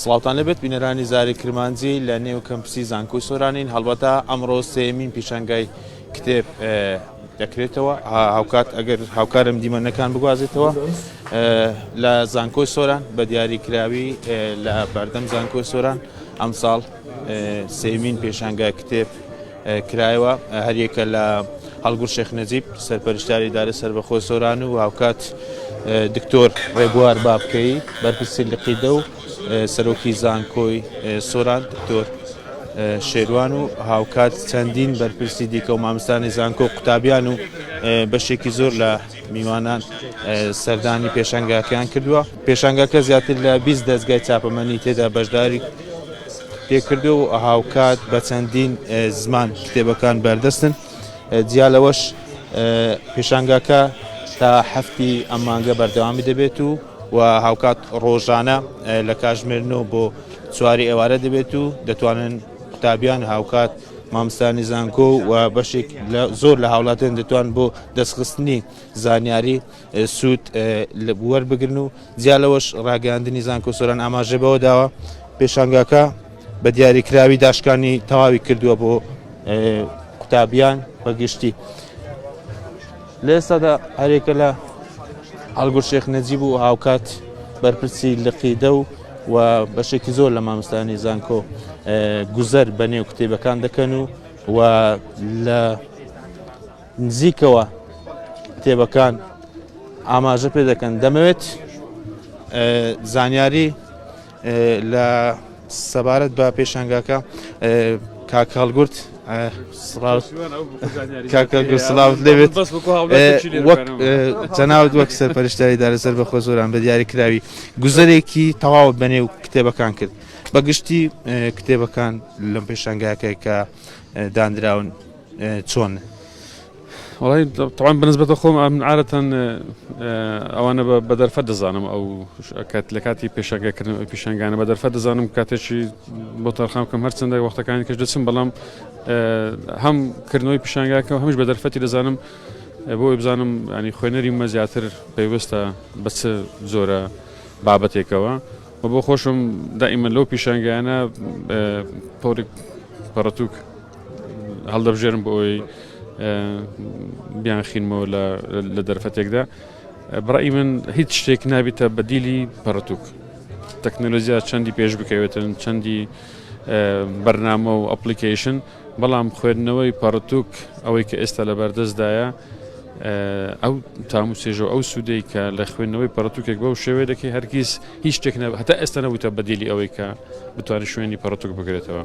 سڵاوتان لێبێت بینەرانی زاری کرمانجی لە نێو کەمپسی زانکۆی سۆرانین هەڵبەتە ئەمڕۆ سێمین پیشنگای کتێب دەکرێتەوە هاوکات ئەگەر هاوکارم دیمەنەکان بگوازێتەوە لە زانکۆی سۆران بە دیاری کراوی لە بەردەم زانکۆی سۆران ئەمساڵ سێمین پێشانگای کتێب کرایەوە، هەریەکە لە هەڵگورد شێخ نەجیب، سەرپەرشتیاری ئیدارەی سەربەخۆی سۆران و هاوکات دکتۆر ڕێبوار بابکەیی، بەرپرسی لقیدە و سەرۆکی زانکۆی سۆران دکتۆر شێروان و هاوکات چەندین بەرپرسی دیکە و مامستانی زانکۆ و قوتابیان و بەشێکی زۆر لە میوانان سەردانی پێشەنگاکەیان کردووە. پێشانگاکە زیاتر لە بیست دەزگای چاپەمەنی تێدا بەشداری پێکردووە و هاوکات بە چەندین زمان کتێبەکان بەردەستن، جیا لەوەش پێشانگاکە تا هەفتی ئەم مانگە بەردەوامی دەبێت و و هاوکات ڕۆژانە لە کاژمێر نۆ بۆ چواری ئێوارە دەبێت و دەتوانن قوتابیان هاوکات مامستانی زانکۆ و بەشێک زۆر لە هاوڵاتیان دەتوان بۆ دەستخستنی زانیاری سوود وەربگرن و جیا لەوەش ڕاگەیاندنی زانکۆ سۆران ئاماژە بەوە داوە پێشانگاکە بە دیاریکراوی داشکانی تەواوی کردووە بۆ قوتابیان بەگشتی لە ئێستادا هەرێکە لە ئەلگور شێخ نەجیب و هاوکات بەرپرسی لقیدە و و بەشێکی زۆر لە مامستانی زانکۆ گوزەر بە نێو کتێبەکان دەکەن و و لە نزیکەوە کتێبەکان ئاماژە پێ دەکەن دەمەوێت زانیاری لە سەبارەت بە پێشنگاکە کاک هەڵگورت سلااوت لێبێت وەک چەناوت وەک سەر پەرشتاری دارەسەر بە خۆ زۆران بە دیاری کراوی گوزەرێکی تەواو بەنێ و کتێبەکان کرد بەگشتی کتێبەکان لەم پێشنگاکە کە دانراون چۆن؟ وەڵای تەوان بنسبەتە خۆم من عادەتەن ئەوانە بە دەرفەت دەزانم ئەو کات لە کاتی پێشەنگەکردن پیشنگانە بە دەرفەت دەزانم کاتێکی بۆ تەرخام کەم هەرچەندە وەختەکانی کەش دەچم بەڵام هەم کردنەوەی پیشنگاکە هەمش بە دەرفەتی دەزانم بۆ بزانم ینی خوێنەری مە زیاتر پێویستە بە چ زۆرە بابەتێکەوە و بۆ خۆشم دائیمە لەو پیشنگانە پۆرک پەڕتوک هەڵدەبژێرن بۆ ئەوەی بیانخینمەوە لە دەرفەتێکدا بڕی من هیچ شتێک نابیتە بەدیلی پەڕتوک تەکنەلۆزییا چەندی پێش بکەوێتن چەندی بەرنامە و ئەپلیکیشن بەڵام خوێندنەوەی پەڕتوک ئەوەی کە ئێستا لە بەردەستدایە ئەو تام و سێژە ئەو سوودەی کە لە خوێندنەوەی پەڕتوکێک بەو شێوەیە دەکەی هەرگیز هیچ شتێک هەتا ئێستا نەبووتە بەدیلی ئەوەی کە بتوانانی شوێنی پەڕتوک بگرێتەوە.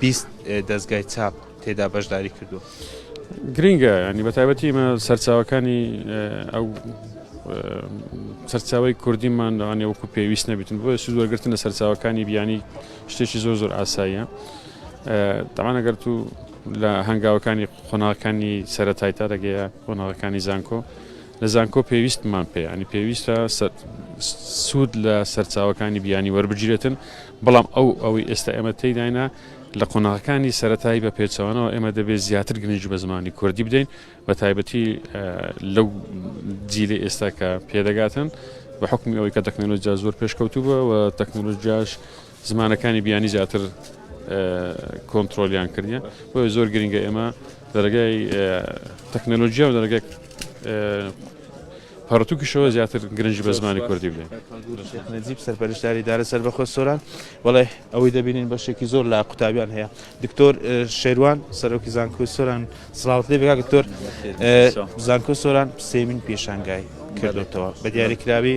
بیست دەزگای چاپ تێدا بەشداری کردووە. گرنگە ینی بە تایبەتی مە سەرچاوەکانی ئەو سەرچاوی کوردیمان لەوانێ وەکو پێویست نەبیتن بۆ سوود وەرگرتن لە سەرچاوەکانی بیانی شتێکی زۆر زۆر ئاساییە تەمانەگەر تو لە هەنگاوەکانی قۆناغەکانی سەرەتای تا دەگەیە قۆناغەکانی زانکۆ لە زانکۆ پێویستمان پێ یانی پێویستە سوود لە سەرچاوەکانی بیانی وەربگیرێتن بەڵام ئەو ئەوەی ئێستا ئێمە تێداینا لە قۆناغەکانی سەتایی بە پێچەوانەوە ئێمە دەبێت زیاتر گرنج بە زمانی کوردی بدەین بە تایبەتی لەو جیلی ئێستا کە پێدەگاتن بە حکمی ئەوەی کە تەکنەلۆجیا زۆر پێشکەوتوبە و تەکنەلۆژیاش زمانەکانی بیانی زیاتر کۆنتترۆلیان کردە بۆیە زۆر گرنگە ئێمە دەرگای تەکنەلۆژیا و دەرگای پەڕتوکیشەوە زیاتر گرنج بە زمانی کوردی بێ نجیب سەرپەرشتاری دارە سەر بەخۆ سۆران وڵێ ئەوەی دەبینین بەشێکی زۆر لە قوتابیان هەیە دکتۆر شێوان سەرۆکی زانکۆی سۆران سلااوت لێ بگا دکتۆر زانکۆ سۆران سێمین پێشانگای کردێتەوە بە دیاریکراوی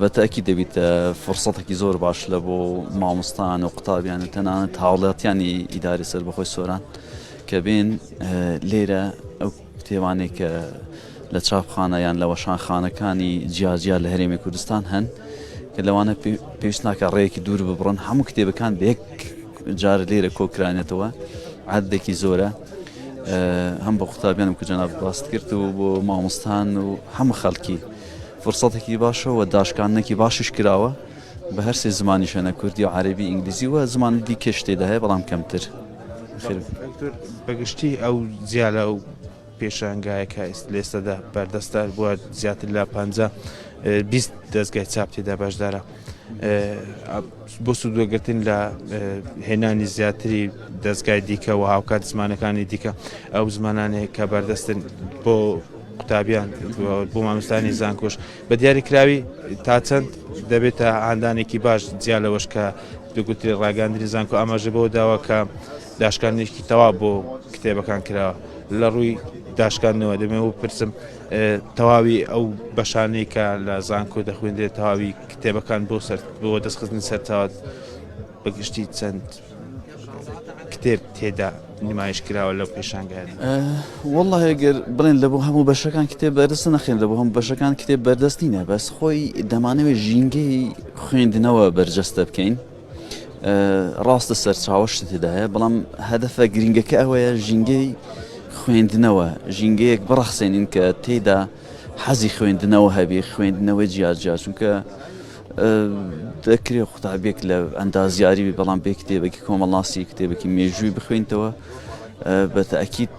بە تەئکید دەبیت فرسەتەکی زۆر باش لە بۆ ماموستان و قوتابیان و تەنانەت هاوڵاتیانی ئیداری سەربەخۆی سۆران کە بێن لێرە ئەو کتێبانێک کە لە چاپخانە یان لە وەشانخانەکانی جیاجیا لە هەرێمی کوردستان هەن کە لەوانە پێویست ناکە ڕێیەکی دوور ببڕن هەموو کتێبەکان بێک جار لێرە کۆکرانێتەوە عادێکی زۆرە هەم بە قوتابیانم کە جەناب باست کرد و بۆ مامۆستان و هەموو خەڵکی فرسەتێکی باشە و داشکاندنێکی باشیش کراوە بە هەر سێ زمانی شوێنە کوردی و عەربی ئینگلیزی و زمانی دیکەش تێدا هەیە بەڵام کەمتر بەگشتی ئەو جیالە و پێشانگایە کە لێستەدا بەردەستە بووە زیاتر لە پ بیست دەستگای چاپ تێدا بەشدارە بۆ سوودوەگرتن لە هێنانی زیاتری دەستگای دیکە و هاوکات زمانەکانی دیکە ئەو زمانانێک کە بەردەستن بۆ قوتابیان و بۆ مامۆستایانی زانکۆش بە دیاریکراوی تا چەند دەبێتە هاندانێکی باش جیا لەوەش کە دوگوتری ڕاگەاندنی زانکۆ ئاماژە بەوە داوە کە داشکاندنێکی تەوا بۆ کتێبەکان کراوە لە ڕووی داشکاندنەوە دەمێ و پرسم تەواوی ئەو بەشانەی کە لە زانکۆ دەخوێندێت تەواوی کتێبەکان بۆ سەر بۆ دەستخستنی سەرچاوات بە گشتی چەند کتێب تێدا نمایش کراوە لەو پێشانگایدا والله گەر بڵێن لە بۆ هەموو بەشەکان کتێب بەردەست نەخێن لە بۆ هەم بەشەکان کتێب بەردەست نینە بەس خۆی دەمانەوێت ژینگەی خوێندنەوە بەرجەستە بکەین ڕاستە سەرچاوەشت تێدایە بەڵام هەدەفە گرنگەکە ئەوەیە ژینگەی خوێندنەوە ژینگەیەک بڕەخسێنین کە تێدا حەزی خوێندنەوە هەبێ خوێندنەوە جیاجیا چونکە دەکرێ قوتابیەک لە ئەندازیاری بی بەڵام بێ کتێبێکی کۆمەڵناسی کتێبێکی مێژووی بخوێنتەوە بە تاکیت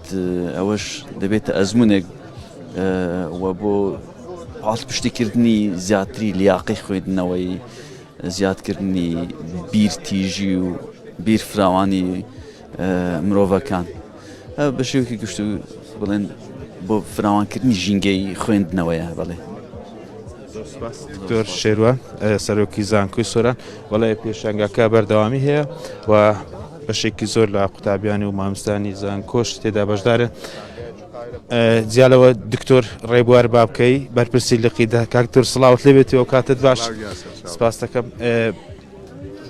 ئەوەش دەبێتە ئەزمونێک و بۆ پاڵ پشتیکردنی زیاتری لیاقی خوێندنەوەی زیادکردنی بیرتیژی و بیر فراوانی مرۆڤەکان بە شێوکی گشت و بڵێن بۆ فراوانکردنی ژینگەی خوێندنەوەیە بڵێ دکتۆر شێروە سەرۆکی زانکۆی سۆران وڵێ پێشنگاکە بەردەوامی هەیە و بەشێکی زۆر لە قوتابیانی و مامستانی زانکۆش تێدا بەشدارن جیالەوە دکتۆر ڕێبوار بابکەی بەرپرسی لقی داکاکتۆر سلااوت لێبێتی و کاتت باش سپاس دەکەم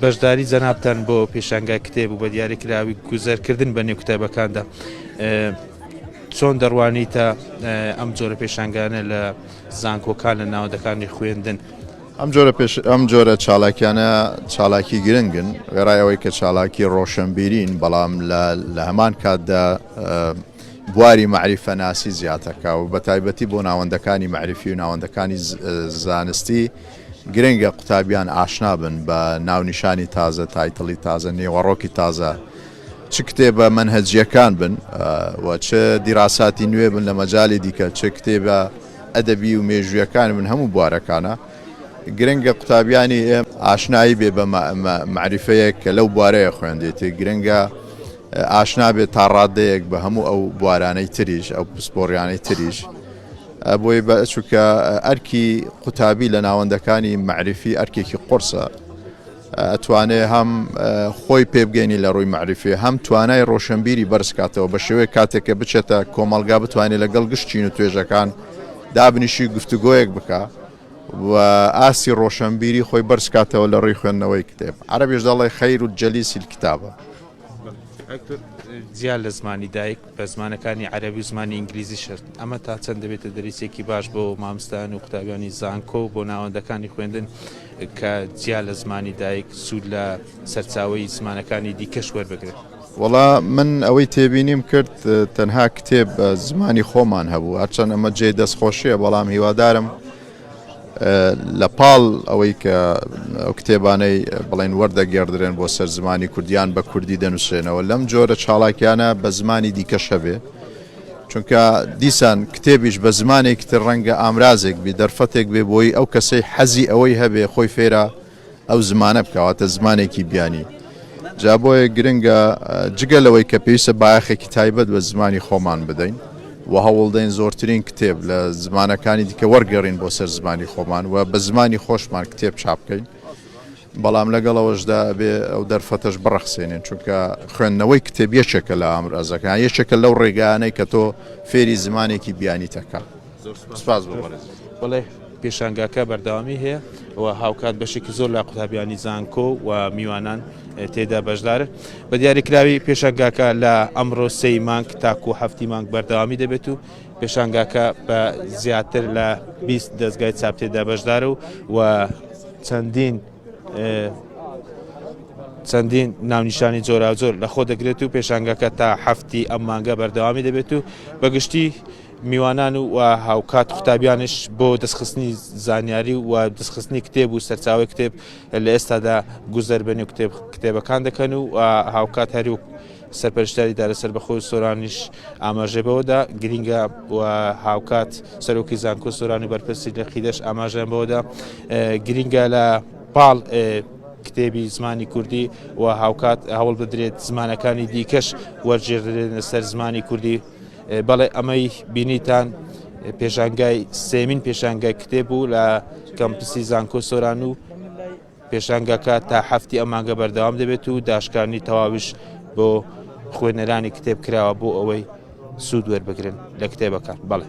بەشداری جەنابتان بۆ پێشانگای کتێب و بە دیاریکراوی گوزەرکردن بە نێو کتێبەکاندا چۆن دەڕوانیتە ئەم جۆرە پێشانگانە لە زانکۆکان لە ناوەندەکانی خوێندن ئەم جۆرە پێش ئەم جۆرە چالاکیانە چالاکی گرنگن وێڕای ئەوەی کە چالاکی ڕۆشنبیرین بەڵام لە هەمان کاتدا بواری مەعریفەناسی زیاتەکە و بە تایبەتی بۆ ناوەندەکانی مەعرفی و ناوەندەکانی زانستی گرنگە قوتابیان ئاشنا بن بە ناونیشانی تازە، تایتڵی تازە، نێوەڕۆکی تازە، چ کتێبە مەنهەجییەکان بن و چ دیراساتی نوێ بن لە مەجالی دیکە، چ کتێبە ئەدەبی و مێژوویەکان بن، هەموو بوارەکانە. گرنگە قوتابیانی ئێمە ئاشنایی بێ بە مەعریفەیەک کە لەو بوارەیە خوێندێتی، گرنگە ئاشنا بێ تا ڕاددەیەک بە هەموو ئەو بوارانەی تریش، ئەو پسپۆڕیانەی تریش. بۆی بە چونکە ئەرکی قوتابی لە ناوەندەکانی مەعریفی ئەرکێکی قرسە ئەتوانێ هەم خۆی پێبگەینی لە ڕووی معریفی هەم توانای ڕۆشنبیری بەرزکاتەوە بە شێوەیە کاتێک کە بچێتە کۆمەلگا بتوانێت لەگەڵ گشتچین و توێژەکان دابنیشی گفتوگۆیەک بکە و ئاسی ڕۆشنبیری خۆی بەرزکاتەوە لە ڕێی خوێندنەوەی کتێب عربیش دەڵی خیر و جەلیسی کتابە زیاد لە زمانی دایک بە زمانەکانی عەرەبی و زمانی ئینگلیزی شەرت. ئەمە تا چەند دەبێتە دەریچەکی باش بۆ ماموستایان و قوتابیانی زانکۆ و بۆ ناوەندەکانی خوێندن کە جیا لە زمانی دایک سوود لە سەرچاوەی زمانەکانی دیکەش وەربگرن؟ وەڵا من ئەوەی تێبینیم کرد تەنها کتێب بە زمانی خۆمان هەبوو، هەرچەند ئەمە جێی دەستخۆشیە بەڵام هیوادارم لە پاڵ ئەوەی کە ئەو کتێبانەی بڵێن وەردەگێڕدرێن بۆ سەر زمانی کوردی یان بە کوردی دەنووسرێنەوە لەم جۆرە چاڵاکیانە بە زمانی دیکەش هەبێ چونکە دیسان کتێبیش بە زمانێکی تر ڕەنگە ئامرازێک بێ دەرفەتێک بێ بۆی ئەو کەسەی حەزی ئەوەی هەبێ خۆی فێرە ئەو زمانە بکەواتە زمانێکی بیانی جا بۆیە گرنگە جگە لەوەی کە پێویستە باخێکی تایبەت بە زمانی خۆمان بدەین و هەوڵدەین زۆرترین کتێب لە زمانەکانی دیکە وەرگێڕین بۆ سەر زمانی خۆمان و بە زمانی خۆشمان کتێب چاپ بکەین بەڵام لەگەڵەوەشدا بێ ئەو دەرفەتەش بڕەخسێنێن چونکە خوێندنەوەی کتێب یەکێکە لە ئامرازەکان یەکێکە لەو ڕێگانەی کە تۆ فێری زمانێکی بیانی تەکە زۆر سوپاس سپاس بۆ بەڕێز بەڵێ پێشانگاکە بەردەوامی هەیە و هاوکات بەشێکی زۆر لە قوتابیانی زانکۆ و میوانان اه، تێدا بەشدارن بە دیاریکراوی پێشانگاکە لە ئەمڕۆ سێی مانگ تاکو هەفتی مانگ بەردەوامی دەبێت و پێشانگاکە بە زیاتر لە 20 دەستگای چاپ تێدا بەشدارە و و چەندین اه، چەندین ناونیشانی جۆراوجۆر لە خۆ دەگرێت و پێشانگەکە تا هەفتی ئەم مانگە بەردەوامی دەبێت و بەگشتی میوانان و هاوکات قوتابیانش بۆ دەستخستنی زانیاری و دەستخستنی کتێب و سەرچاوی کتێب لە ئێستادا گوزەر بە نێو کتێب کتێبەکان دەکەن و هاوکات هەرو سەرپەرشتاری دارە سەربەخۆ سۆرانیش ئاماژێ بەوەدا گرینگە و هاوکات سەرۆکی زانکۆ سۆرانی بەرپرسی لە قیدەش ئاماژیان بەوەدا گرینگە لە پاڵ کتێبی زمانی کوردی و هاوکات هەوڵ بدرێت زمانەکانی دیکەش وەرجێدرێنە سەر زمانی کوردی بەڵێ ئەمەی بینیتان پێشانگای سێمین پێشانگای کتێب بوو لە کەمپسی زانکۆ سۆران و پێشانگاکە تا هەفتی ئەمانگە بەردەوام دەبێت و داشکانی تەواویش بۆ خوێنەرانی کتێب کراوە بۆ ئەوەی سوود وەربگرن لە کتێبەکان بەڵێ